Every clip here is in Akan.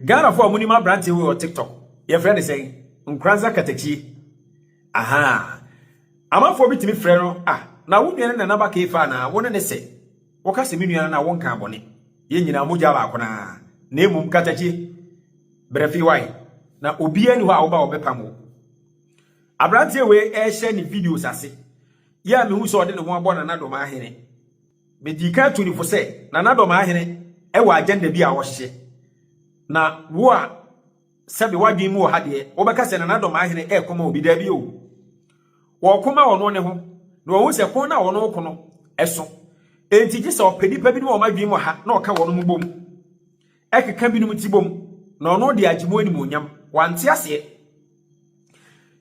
Ghana foɔ a monim abranteɛ wei wɔ tiktok yɛfrɛ ne sɛn Nkoranza Katakyie ahaa amanfoɔ bi tumi frɛ no ah na wo nua ne nana ba keefa anaa wo ne ne sɛ woka sɛ me nua na wo nkaa bɔne yɛn nyinaa mogya baako na na emum Katakyie berɛ fi wae na obiara ni hɔ a woba wɔbɛpam wo abranteɛ wei ɛhyɛ ne videos ase yɛ a mehu sɛ ɔde ne ho abɔ nana dɔm ahene Medii kan tuu no fo sɛ na Nadoma Ahene wɔ agenda bi a wɔhyehyɛ. Na wo a sɛbe w'adwene mu wɔ ha deɛ, wobɛka sɛ na Nadoma Ahene reko ma obi. Dabi o. Wɔreko ma ɔno ne ho, na wɔahu sɛ ko no a wɔne wo ko no so. Enti gye sɛ ɔpɛ nnipa binom a wɔn adwene mu wɔ ha na ɔka wɔnom bom, keka binom ti bom, na ɔno de agye mu animuonyam. Wante aseɛ?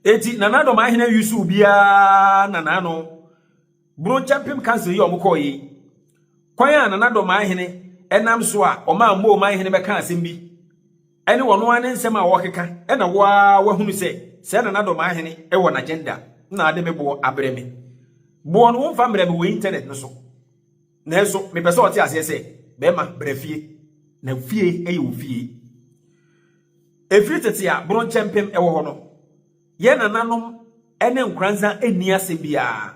Enti na Nadoma Ahene nwisu obiara nanaa no. Boro Kyɛmpem Council yi a wɔkɔeɛ yi, kwan a Nana Addo Manhene nam so a ɔmaa Moo Manhene bɛkaa asɛm bi ne wɔn ara ne nsɛm a wɔrekeka na wo ara woahunu sɛ sɛɛ Nana Addo Manhene wɔ n'agenda na ade me boɔ abrɛ me. Boɔ no womfa mmerɛ me wɔ internet no so nanso mepɛ sɛ ɔte aseɛ sɛ bɛrima bra fie na fie yɛ wo fie. Ɛfiri tete a Boro Kyɛmpem wɔ hɔ no, Yɛ nananom ne nkoranza nni asɛm biara.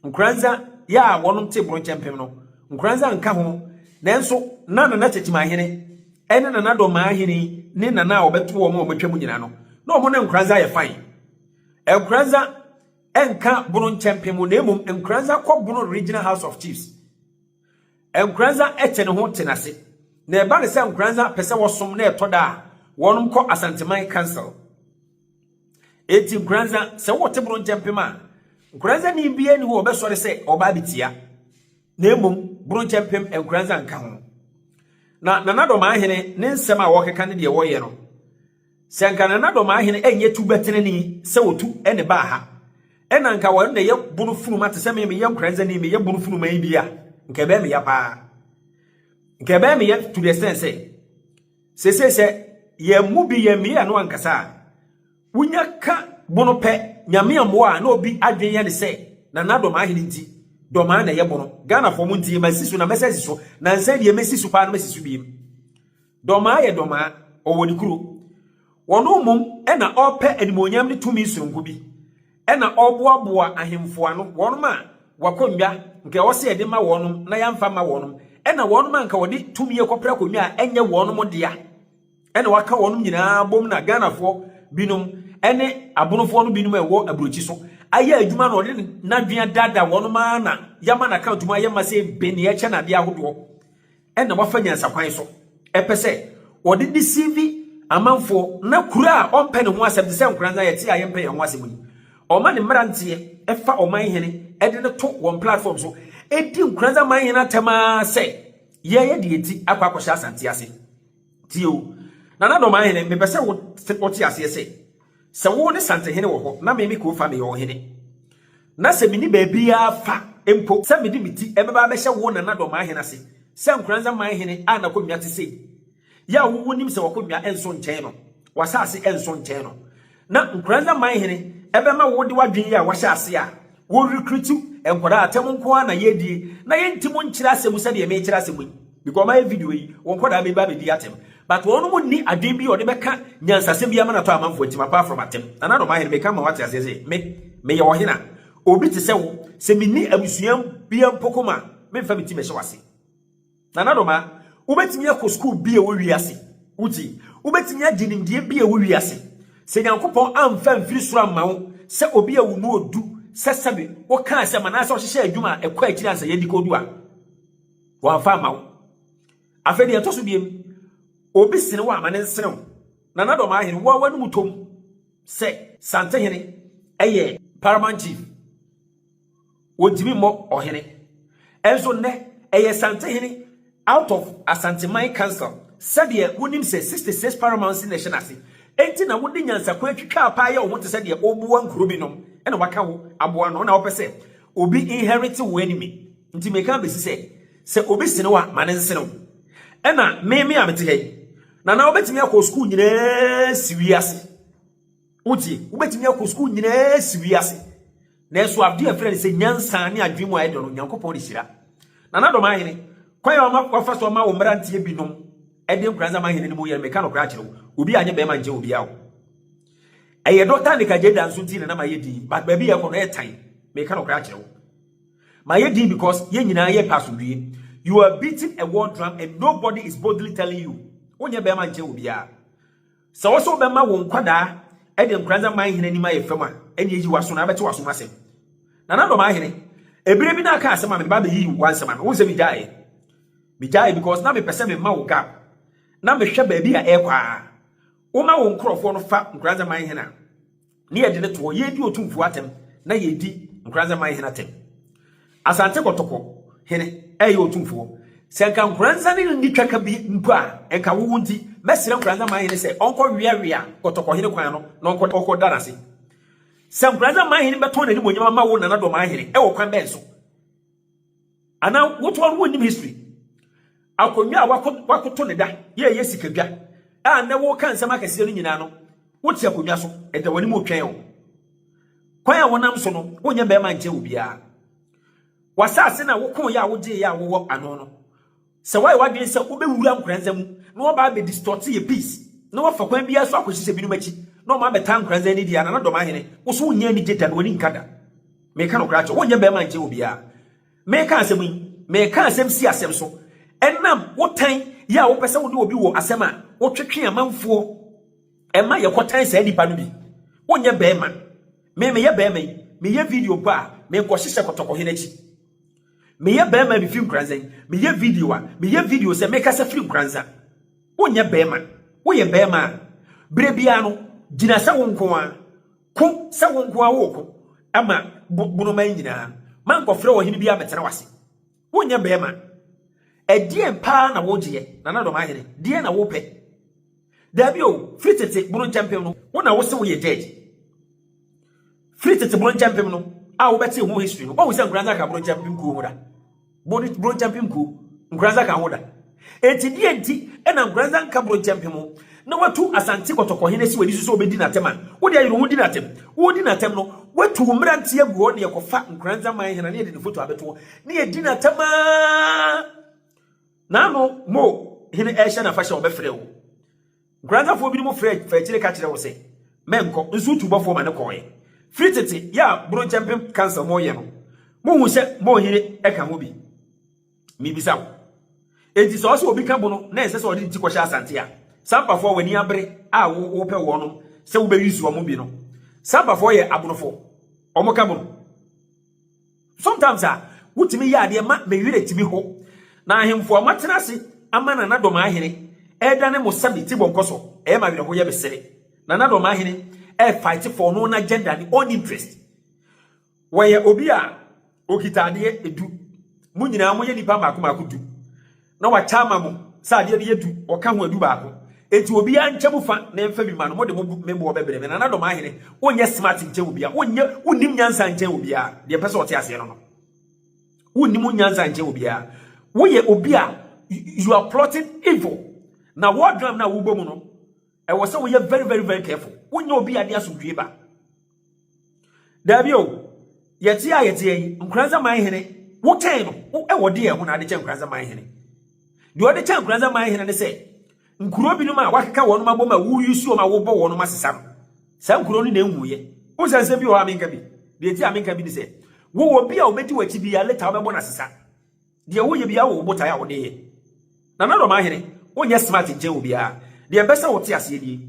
Nkoranza yɛ a wɔnom te boro kyɛmpem no, nkoranza nka ho, nanso na Nana Kyekyemahene ne Nana Dɔmmaahene ne Nana a wɔbɛto wɔn a wɔatwa mu nyina no, na wɔn ne nkoranza yɛ fine. Nkoranza nka bono nkyɛmpem na mmom nkoranza kɔ bono Regional House of Chiefs. Nkoranza tse no ho tse no ase, na ɛba no sɛ Nkoranza pɛ sɛ wɔsom na ɛtɔ da a, wɔnom kɔ Asanteman Council. Enti Nkoranza, sɛ wɔte boro nkyɛ mpem a, Nkoranzani biara ni hɔ ɔbɛsɔre sɛ ɔba abetia, na mmom boro nkyɛ mpem Nkoranza nka ho. Na Nana Dɔmaahene ne nsɛm a wɔkeka ne deɛ wɔyɛ no, Sɛ anka na Nadoma hene ɛnyɛ tu bɛtenene sɛ ɔtu ne baa ha, ɛna anka ɔno na ɛyɛ bono funuma te sɛ me meyɛ nkoranza ni meyɛ bono funuma yi bi a, nka ɛbɛyɛ meya paa. Nka ɛbɛyɛ meya to the extent sɛ, sese sɛ yɛn mu bi yɛn meya no ankasa a, wonya ka bono pɛ nyame mmoa a na obi adwen yɛ ne sɛ na Nadoma hene nti dɔmaa na ɛyɛ bono. Ghanafoɔ mo ntie, masi so na mɛsɛ si so, nansa deɛ mɛsi so paa na mɛsi so biem. Dɔmaa yɛ dɔmaa, ɔwɔ ne kuro. Ɔno mmom na ɔrepɛ animuonyam ne tumi sononko bi, na ɔreboaboa ahemfo ano, wɔnom a w'akonnwa nka ɛwɔ sɛ yɛde ma wɔnom na yɛamfa mma wɔnom, na wɔnom a nka wɔde tumi rekɔpere akonnwa a ɛnyɛ wɔnom dea, na waka wɔnom nyinaa abom na Ghanafoɔ binom ne abonofoɔ no binom a ɛwɔ aburokyi so ayɛ adwuma na ɔde n'adwene adaadaa wɔnom ara na yɛama n'account mu ayɛ ma sɛ mpe nea ɛkyɛ no adeɛ ahodoɔ. na wafa nyansakwan so pɛ sɛ ɔde deceive amanfoɔ na kura a ɔmpɛ ne ho asɛm te sɛ nkoranza a yɛte a yɛmpɛ yɛn ho asɛm yi ɔma ne mmeranteɛ fa ɔman hene de no to wɔn platform so ɛdi nkoranza man hene atɛm ara sɛ yɛyɛ deɛ ɛti akɔ akɔhyɛ asante ase Tie o, Nana Domaahene, mepɛ sɛ wote aseɛ sɛ, sɛ wo ne Santehene wɔ hɔ na me me Kofa meyɛ ɔhene, na sɛ menni baabiara fa mpo sɛ mede me ti bɛba abɛhyɛ wo Nana Domaahene ase sɛ Nkoranza Manhene a n'akonnwa te sei yi a wonim sɛ w'akonnwa nsɔ nkyɛn no, W'asase nso nkyɛn no, na Nkoranza man hene ɛbɛma wo de w'adwene yi a wahyɛ ase a wo recruit nkwadaa atɛm nko ara na yɛredie na yɛnti mo nkyerɛ asɛm sɛdeɛ mekyerɛ asɛm yi because ɔma yɛ video yi wɔn nkwadaa bɛba abɛdi atɛm but wɔn mo nni adwene bi a ɔde bɛka nyansasɛm bi ama no atɔ amanfoɔ atim apart from atɛm nana dɔm ahene meka ma wate aseɛ sɛ me meyɛ ɔhene a obi te sɛ wo sɛ menni abusua bia mpo koma memfa me ti mɛhyɛ wase Nana Doma, Wobɛtumi akɔ sukuu bi a ɛwɔ wiase. Wogye? Wobɛtumi agye nimdeɛ bi a ɛwɔ wiase. Sɛ Nyankopɔn amfa amfiri soro amma wo sɛ obi a wo mu ɔdu sɛ sɛbe woka asɛm anaasɛ ɔhyehyɛ adwuma a ɛkɔ akyiri ansa yɛadi kɔdu a, wɔamfa amma wo. Afei deɛ ɛtɔ so biem, obi sene wo a ma ne nsene wo. Nana Doma Ahene, wo a w'anom tɔ mu sɛ Santehene yɛ Paramount Chief. wɔntumi mmɔ ɔhene. Nso nnɛ, ɛyɛ Santehene out of Asanteman Council. Sɛdeɛ wonim sɛ 66 Paramountcy na ɛhyɛ n'ase, enti na wode nyansakwan twitwaa paa yɛ wo ho te sɛ deɛ woboa nkuro binom na wɔaka wo aboa ano na wopɛ sɛ obi inherit wo enemy. Nti meka abɛsi sɛ, sɛ obi sene wo a, ma no nsene wo. Ɛna me me a mete ha yi, Nana wobɛtumi akɔ sukuu nyinaa asi wiase. Wogye, wobɛtumi akɔ sukuu nyinaa asi wiase, nanso adeɛ a ɛfrɛ no sɛ nyansa ne adwene mu a ɛdɔ no, Nyankopɔn de hyira. Na n'adɔm ahene, kwan a ɔma wafa so ama wo mmeranteɛ binom ɛde nkuransa ama ahene no mu yɛ no, meka nokora akyerɛ wo, obi anyɛ bɛrima nkyɛ obi awo. Ɛyɛ dɔta ne kajeda nso nti na na mayɛ din, but baabi yɛ kɔ no ɛyɛ tan, meka nokora akyerɛ wo. Mayɛ din because yɛn nyinaa yɛ pɛ asomdwie. You are beating a war drum and nobody is boldly telling you, wonyɛ bɛrima nkyɛ obiara. Sɛ wo nso wobɛma wo nkwadaa de Nkoranza man hene anim ayɛ fam a, ɛnneɛ yi w'aso na abɛte w'asom asɛm. Nana Dɔm Ahene, ɛberɛ bi na aka asɛm a mede ba abɛyi wo w'ansɛm ano, wohu sɛ megyaeɛ? Megyaeɛ because na mepɛ sɛ mema wo gap na mehwɛ baabi a ɛrekɔ a. Woma wo nkorɔfoɔ no fa Nkoranza man hene a, Ne yɛde no to hɔ, yɛredi otumfoɔ atɛm na yɛredi Nkoranza man hene atɛm. Asante Kɔtɔkɔ hene ɛyɛ otumfoɔ. Sɛ nka Nkoranza ne no nni twaka bi mpo a, nka wowo nti, mɛsrɛ Nkoranza man hene sɛ ɔnkɔ weawea Kɔtɔkɔ hene kwan ano na ɔnkɔ da n'ase. Sɛ Nkoranza man hene bɛtɔn n'animuonyam ama wo Nana Dɔmaa hene, ɛwɔ kwan bɛn so? Anaa wotoɔ no wonnim history. Akonnwa a wakoto ne da yɛ ɛyɛ sikadwa a nnɛ woka nsɛm akɛseɛ no nyinaa no wote akonnwa so ɛda w'anim retwɛn wo. Kwan a wonam so no wonyɛ mmarima nkyɛ obiara. W'asaase na wokoeɛ a wogyeeɛ a wowɔ ano no Sɛ woayɛ w'adwene sɛ wobɛwura nkoranza mu na woaba abɛdistɔɔte yɛ peace, na woafa kwan biara so akɔhyehyɛ binom akyi na wɔn abɛtaa nkoranza anidie anaa na dɔmahene, wo so wonyɛ anigye da na w'ani nka da. Meka nokorɛ akyerɛ wo, wonyɛ barima nkyɛn obiara. Meka asɛm yi, meka asɛm si asɛm so, ɛnam wo tan yɛ a wopɛ sɛ wone obi wɔ asɛm a wotwetwe amanfoɔ ma yɛkɔtan saa nipa no bi. Wonyɛ barima. Me meyɛ barima yi, meyɛ video mpo a, menkɔhyehyɛ kɔtɔkɔhene akyi. Meyɛ bɛɛma mefiri nkuranzan. Meyɛ video a meyɛ video sɛ mekasa firi nkuranzan. Wonyɛ bɛɛma. Woyɛ bɛɛma a berɛ biara no gyina sɛ wo nko ara. Ko sɛ wo nko ara woko ma bonoman nyinaa no. Mankɔfrɛ ɔhene biara mmɛtena w'ase. Wonyɛ bɛɛma. Ɛdeɛn paa na wogyeɛ Nana Dɔmahene? Deɛn na wopɛ? Dabi o, firi tete boro nkyɛ mpem no, wo na wo se wo yɛ dead. Firi tete boro nkyɛ mpem no, a wo bɛte ho history no, wahu sɛ Nkoranza ka boro nkyɛ mpem kuo ho da. Boro nkyɛ mpem kuo, Nkoranza ka ho da. Enti deɛ nti na Nkoranza nka boro nkyɛ mpem ho, na watu Asante kɔtɔkɔhene si w'ani so sɛ ɔbɛdi n'atɛm a, wo deɛ yere ho di n'atɛm. Wodi n'atɛm no, watu wo mmeranteɛ agu hɔ na yɛkɔfa Nkoranza man hena na yɛde ne foto abɛto hɔ na yɛdi n'atɛm aa. Naano mo hene rehyɛ n'afahyɛ a wɔbɛfrɛɛ wo. Nkoranzafoɔ binom frɛɛ faa akyire ka kyerɛɛ wo sɛ, Mɛnkɔ, nso wotubɔfoɔ ma no kɔɔɛ. Firi tete yɛ a Boronkyɛmpem Council mo reyɛ no, mohuu sɛ mo hene ka ho bi. Mebisa wo, enti sɛ ɔse obi ka bo no na ɛnsɛ sɛ ɔde ne ti kɔhyɛ Asante a? Sampafoɔ a w'ani abere a wo wopɛ wɔnom sɛ wobɛ use wɔn bi no, Sampafoɔ yɛ Abrofoɔ, wɔka bo no. Sometimes a, wotumi yɛ adeɛ ma me werɛ tumi ho. Na ahemfo a wɔatena ase ama Nana Dɔm Ahene ɛredane mo sɛ me ti bɔ nkɔsɔ, ɛyɛ me awerɛho yɛ me sere. Nana Dɔm Ahene ɛrefight for no own agenda, ne own interest. Wɔyɛ obi a okita adeɛ du. Mo nyinaa moyɛ nipa mmaako mmaako du. na wɔakyɛ ama mo sɛ adeɛ no yɛ du, wɔka ho adu baako. Enti obiara nkyɛ mu fa na ɛmfa bi mma no, mode mo bo, me boɔ bɛbrɛ me. Nana Domaahene, wonyɛ smart nkyɛn obiara, wonyɛ, wonnim nyansa nkyɛn obiara, deɛ mpɛ sɛ ɔte aseɛ no no. Wonnim wo nyansa nkyɛn obiara. Woyɛ obi a, you are plotting evil. Na war drum no a wobɔ mu no, ɛwɔ sɛ woyɛ very very very careful. Wonyɛ obi a de asomdwoe ba. Dabi o, yɛte a yɛteɛ yi, Nkoranza man hene, wotɛn no, wɔ deɛ ɛho na ade kyɛ Nkoranza man hene. Deɛ ɔde kyɛ Nkoranza man hene ne sɛ, nkuro binom a wakeka wɔn abom a woyi suo ma wobɔ wɔn asesa no, saa nkuro no na ɛnwuiɛ. Wo sɛ nsɛm bi wɔ hɔ a menka bi, deɛ ɛti a menka bi ne sɛ, wowɔ bi a ɔbɛdi w'akyi bi a leta wobɛbɔ no asesa. Deɛ woyɛ biara wɔ wo botae a wode yɛ. Nana Dormaa Hene, wonyɛ smart nkyɛn obiara. Deɛ mpɛ sɛ wote aseɛ nie,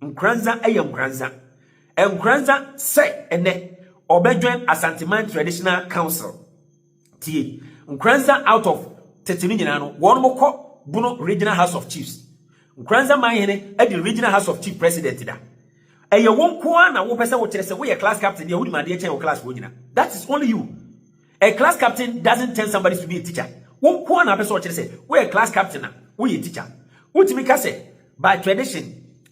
Nkoranza yɛ Nkoranza. Nkoranza sɛ ɛnɛ ɔbɛjoin Asanteman Traditional Council. Tie, Nkoranza out of tete no nyinaa no, wɔnom kɔ Bono Regional House of Chiefs. Nkoranza Man Hene adi Regional House of Chief President da. Ɛyɛ wo nko ara na wopɛ sɛ wokyerɛ sɛ woyɛ class captain deɛ wonim adeɛ kyɛn wo class foɔ nyina. That is only you. A class captain doesn't tell somebody to be a teacher. Wo nko ara na apɛ sɛ ɔkyerɛ sɛ woyɛ class captain a woyɛ teacher. Wotumi ka sɛ by tradition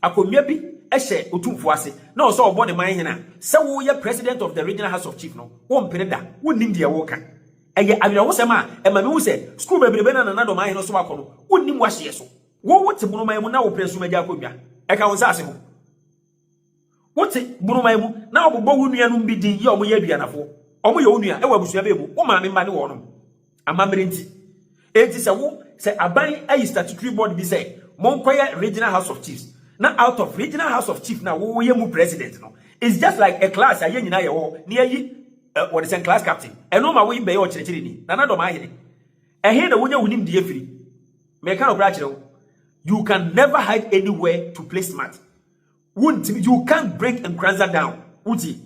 akonnwa bi hyɛ otumfoɔ ase na ɔwɔ sɛ ɔbɔ ne man hene a, sɛ woyɛ president of the regional house of chief no, wompere da. Wonnim deɛ woreka. Ɛyɛ awerɛhosɛm a ɛma mehu sɛ sukuu bebrebe no a Nana Addo man hene som akɔ no, wonnim w'ahyeɛ so. Wo wote monoman mu na wopere som agya akonnwa. Ɛka wo nsase ho. Wote buruman mu na wɔbobɔ wo nuanom bi din yɛ wɔn yɛ aduanafoɔ. Wɔyɛ wo nua wɔ abusua bɛn mu? Wo maame mma ne wɔnom. Amammerɛ nti. Enti sɛ wo, sɛ aban ayi statutory board bi sɛ monkɔyɛ regional house of chiefs na out of regional house of chief no a woyɛ mu president no, it's just like a class a yɛn nyinaa yɛwɔ hɔ na yɛayi eh, wɔde sɛn class captain. Ɛno ma wo bɛyɛ ɔkyerɛkyerɛni. Nana Dɔmahene, ɛhe na wonya wo nimdeɛ firi? Meka nokorɛ akyerɛ wo. You can never hide anywhere to play smart. Wontimi, you can't break Nkoranza down. Wotie?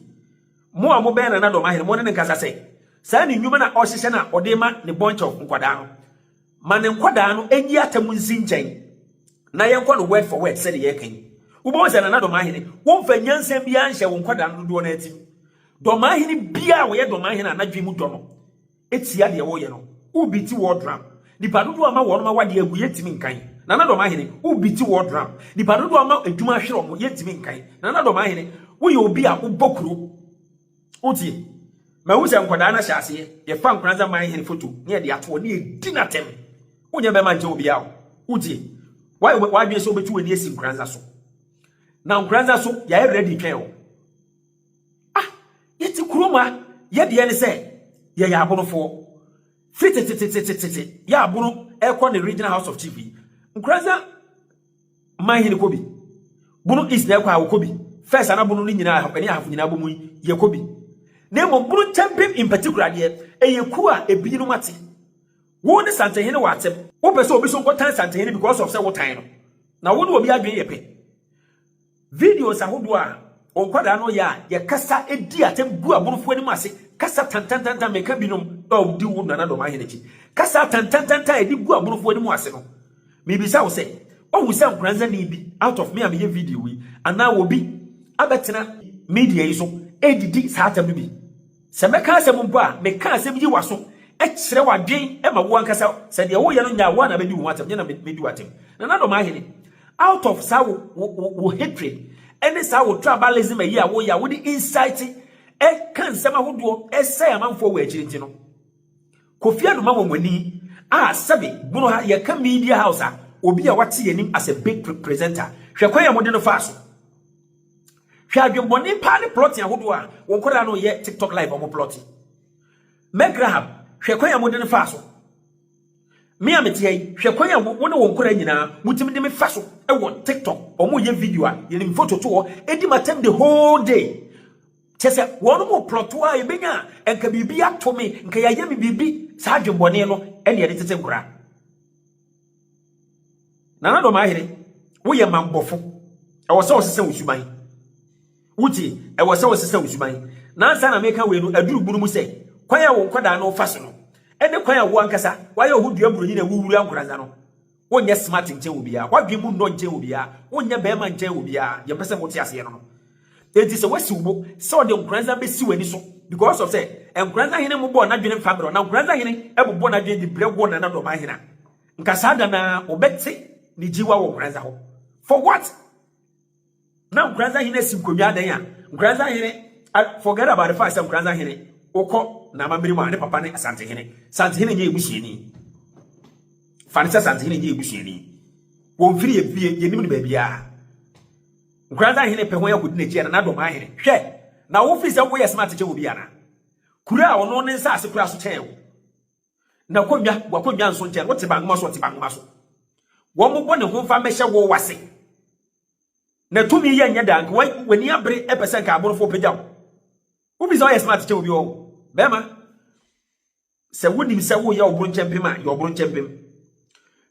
Mo a mobɛn Nana Dɔm Ahene, mo ne ne nkasa sɛ, saa ne nnwuma na ɔhyehyɛ na ɔde ma ne bunch of nkwadaa no. Ma ne nkwadaa no nyi atam nsi nkyɛn na yɛnkɔ no word for word sɛdeɛ yɛka yi. Wobɛhu sɛ Nana Dɔm Ahene, womfa nyansa biara nhyɛ wo nkwadaa no dodoɔ no atim. Dɔm Ahene biara a ɔyɛ Dɔm Ahene a n'adwene mu dɔ no, tia deɛ wɔyɛ no wo beati war drum nipa dodoɔ ama wɔnom awadeɛ agu yɛntimi nkan Nana Dɔmahene wo beati war drum nipa dodoɔ ama adwuma ahwere ɔmo yɛntimi nkan Nana Dɔmahene woyɛ obi a wobɔ kuro wotie mahu sɛ nkwadaa no ahyɛ aseɛ yɛfa Nkoranza man hene foto ne yɛde atoɔ ne yɛdi n'atɛm wonyɛ bɛma nkyɛ obi a wo wotie wadwene sɛ wobɛtu w'ani asi Nkoranza so na Nkoranza so yɛayɛ ready twɛn wo Ah, yɛte kurom a, yɛ deɛ ne sɛ yɛyɛ abonofoɔ. Firi tetetetetete yɛ abono ɛkɔ ne regional house of chief yi. Nkuransa man hene kɔ bi. Bono east na ɛkɔ a wɔkɔ bi. First ana bono no nyinaa ɛne ahafo nyinaa bɔ mu yi yɛkɔ bi. Na mmom bono nkyɛmpem in particular deɛ ɛyɛ kuo a ebinom ate. Wo ne santehene wɔ atɛm. Wopɛ sɛ obi so nkɔtan santehene because of sɛ wotan no. Na wo ne obi adwene yɛ pɛ. Videos ahodoɔ a nkwadaa no yɛ a yɛkasa di atɛm gu aborɔfo anim ase kasa tantantantan meka binom a ɔdi wo nana dɔm ahene akyi kasa tantantantan a ɛde gu aborɔfo anim ase no mebisa wo sɛ ɔhu sɛ nkoransani bi out of me a meyɛ video yi anaa obi abɛtena media yi so ɛdidi saa atɛm no bi Sɛ mɛka asɛm mpo a, meka asɛm yi w'aso, kyerɛ w'adwen ma wo ankasa, sɛ deɛ woyɛ no nyɛ a, wo ara na bɛdi wo ho atɛm, nyɛ na mɛdi wo atɛm. Nanadɔm ahene, out of saa wo, wo, wo, wo hatred, ne saa wo tribalism ayi a woyɛ a wode incite, ɛka nsɛm ahodoɔ, ɛsɛe amanfoɔ wɔ akyiri nti no, Kofi Anno ma wɔn ani a sɛbe, bunu ha, yɛka media house a, obi a wate yɛn anim as a big presenter, hwɛ kwan a mode no faa so. Hwɛ adwemmɔne paa ne plɔte ahodoɔ a wo nkwadaa no reyɛ TikTok live a wɔplɔte. Meg Rahab, hwɛ kwan a mode no faa so. Me a mete ha yi, hwɛ kwan a wo ne wo nkwadaa nyinaa motumi de me fa so wɔ TikTok. Wɔyɛ video a yɛnim foto to hɔ, ɛdi m'atɛm the whole day. Kyɛ sɛ wɔn mo plɔto a ɛbɛnya a nka biribi ato me, nka yɛayɛ me biribi. Saa adwemmɔne no ɛne ɛde tete nkwadaa. Nana Dɔm Ahene, woyɛ mammɔfo. Ɛwɔ sɛ ɔsesa wo suban. Wotie? Ɛwɔ sɛ ɔsesa wo suban. Nansa na meka wei no, aduru bunu mu sɛ, kwan a wo nkwadaa no fa so no, ɛne kwan a wo ankasa woayɛ wo ho dua buroni na wowura nkoranza no, wonyɛ smart nkyɛn obiara, w'adwene mu nnɔ nkyɛn obiara, wonyɛ barima nkyɛn obiara, deɛ mpɛ sɛ mote aseɛ no no. Enti sɛ wasi wo bo sɛ ɔde nkoranza besi w'ani so because of sɛ nkoranza hene mmobɔɔ n'adwene mfa mmerɛ wo, na nkoranza hene bobɔ n'adwene de brɛ wo nana dɔmaa hene a, nka saa da no ara wobɛte ne gyiwa wɔ nkoranza hɔ. For what? Na nkoranza hene asi nkonnwa adɛn a nkoranza hene forget about the fact sɛ nkoranza hene wokɔ n'amammerɛ mu a ne papa ne asantehene santehene nyɛ ebusuani fa ne sɛ santehene nyɛ ebusuani wɔmfiri yɛ fie yɛnim no baabiara Nkoranza hene pɛ hɔn akodi n'ekyi ana n'adomaa hene? Hwɛ, na wo firi sɛ wo yɛ smart kyɛn obi ana? Kuro a ɔno ne nsaase koraa so kyɛn wo. Na konnwa, w'akonnwa nso nkyɛn, wo te bangoma so, ɔte bangoma so. Wɔmmobɔ ne ho mfa mmɛhyɛ wo ase. Na tumi yɛ nyɛ daa, nka wa, w'ani abere pɛ sɛ nka aborofoɔ pagya wo. Wo firi sɛ ɔyɛ smart kyɛn obi ɔɔ, bɛɛma. Sɛ wonim sɛ woyɛ ɔbronkyɛmpem a, yɛ ɔbronkyɛmpem.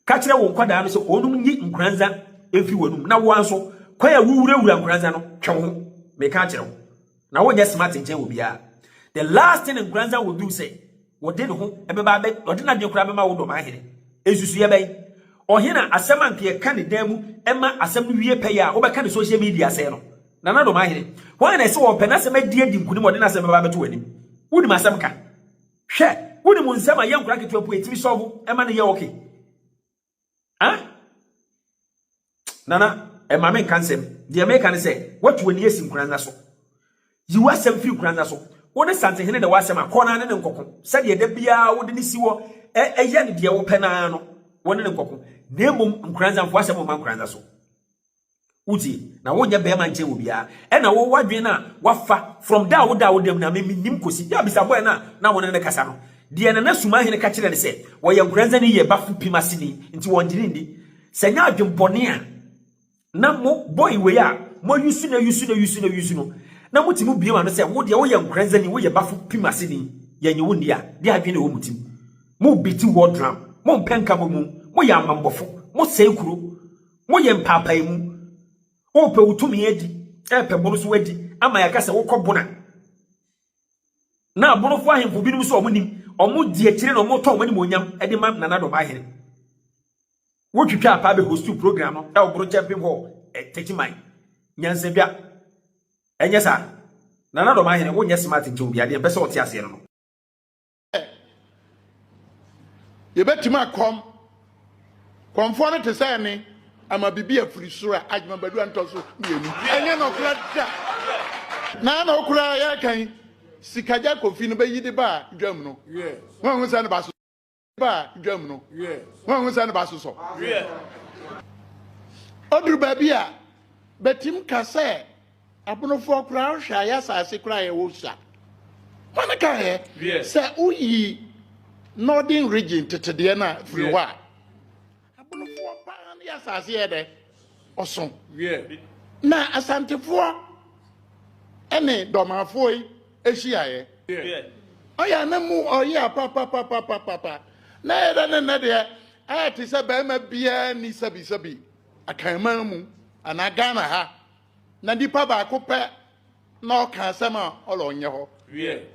Ka kyerɛ wo nkwadaa no sɛ wɔnom nyi nkoranza mfi w'anum na woa nso kwan a wowurawura nkoranza no twe wo ho. Meka akyerɛ wo, na wonyɛ smart nkyɛn wɔ biara. The last thing nkoranza will do sɛ wɔde ne ho bɛba abɛ ɔde n'adwene koraa bɛma wo dɔm ahene. Nsusuiɛ bɛn? Ɔhena asɛm a nka yɛka ne dan mu ma asɛm no wie pɛyɛ a wobɛka ne social media sɛe no. Nana Domaahene, hwan na ɛse wɔpɛ n'asɛm adi adi nkunim ɔde n'asɛm bɛba abɛto w'anim? Wonim asɛm ka? Hwɛ, wonim nsɛm a yɛ nkora nketewa mpo yɛtumi sɔvo ɛma no yɛ ok? Ah? Nana, ɛma me nka nsɛm, deɛ meka ne sɛ, watu w'ani asi nkora nna so. Yi w'asɛm firi nkora nna so. Wo ne Santehene na ɛwɔ asɛm a, kɔ na ne ne nkɔko, sɛdeɛ da biara wode no si hɔ ɛ, yɛ no deɛ wopɛ no ara no, wo ne ne nkɔko. Na mmom nkora nna, mfa w'asɛm mma nkora nna so. Wotie? Na wonyɛ bɛrima nkyɛn wɔ biara. Ɛna wowɔ adwene no a wafa from da a wodaa wo dam no a me menim kɔsi da a bisa bɔɛ no a na wo ne no kasa no. Deɛ Nana Sumahene ka kyerɛɛ no sɛ wɔyɛ Nkoranza ne yɛ Bafo Pim aseni nti wɔngye no nni. Sɛ nyɛ adwenbɔne a na mo bɔe wei a moayusu no ayusu no ayusu no ayusu no na motumi bue w'ano sɛ wo deɛ woyɛ Nkoranza ni woyɛ Bafo Pim aseni yɛnye wo nni a deɛ adwene na ɛwɔ mo tim. Mo beati war drum. Mompɛ nka mo mu. Moyɛ amammɔfo. Mosɛe kuro. Moyɛ mpaapaemu. Worepɛ wo tumi adi, repɛ bon so adi, ama yɛaka sɛ wokɔ bon a. Na abonofo ahemfo binom nso a wɔnim, wɔdi akyire na wɔtɔn wɔn animuonyam de ma Nana Ado Baahene. Wotwitwa apaa bɛhostiu program no wɔ Boro Kyɛmpem Hall, Techiman, Nyansadwa. Ɛnyɛ saa? Nana Ado Baahene, wonyɛ smart nkyɛ obi, adeɛ mpɛ sɛ ɔte aseɛ no no. yɛbɛtumi akɔm kɔmfoɔ no te sɛ ne ama biribi afiri soro a adwuma badu antɔ so mmienu ɛnyɛ nɔkora da na na ɔkora yɛkan sikagya kofi no bɛyi de ba dwam no wɔahu sɛ ne ba so ba dwam no wɔahu sɛ ne ba so sɔ ɔduru baabi a bɛtim ka sɛ Abonofoɔ koraa wohwɛ a yɛ asase koraa yɛ wɔ sua. Wɔn ka yɛ sɛ woyi northern region tetedeɛ no a firi hɔ a abonofoɔ paa no yɛ asase yɛ dɛ ɔso. Na asantefoɔ ɛne dɔmafoɔ yi ehyiaeɛ. Ɔyɛ ne mu ɔyɛ papapapapapa na yɛ dɛ ne nnɛ deɛ ayɛ te sɛ bɛrima biara ni sɛbisɛbi akanman mu anaa Ghana ha. na nipa baako pɛ na ɔka asɛm a ɔla ɔnyɛ hɔ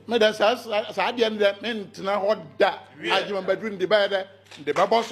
medɛ saa adeɛ no dɛ mentena hɔ da agye mabɛduru mede bɛyɛ dɛ mede bɛbɔ so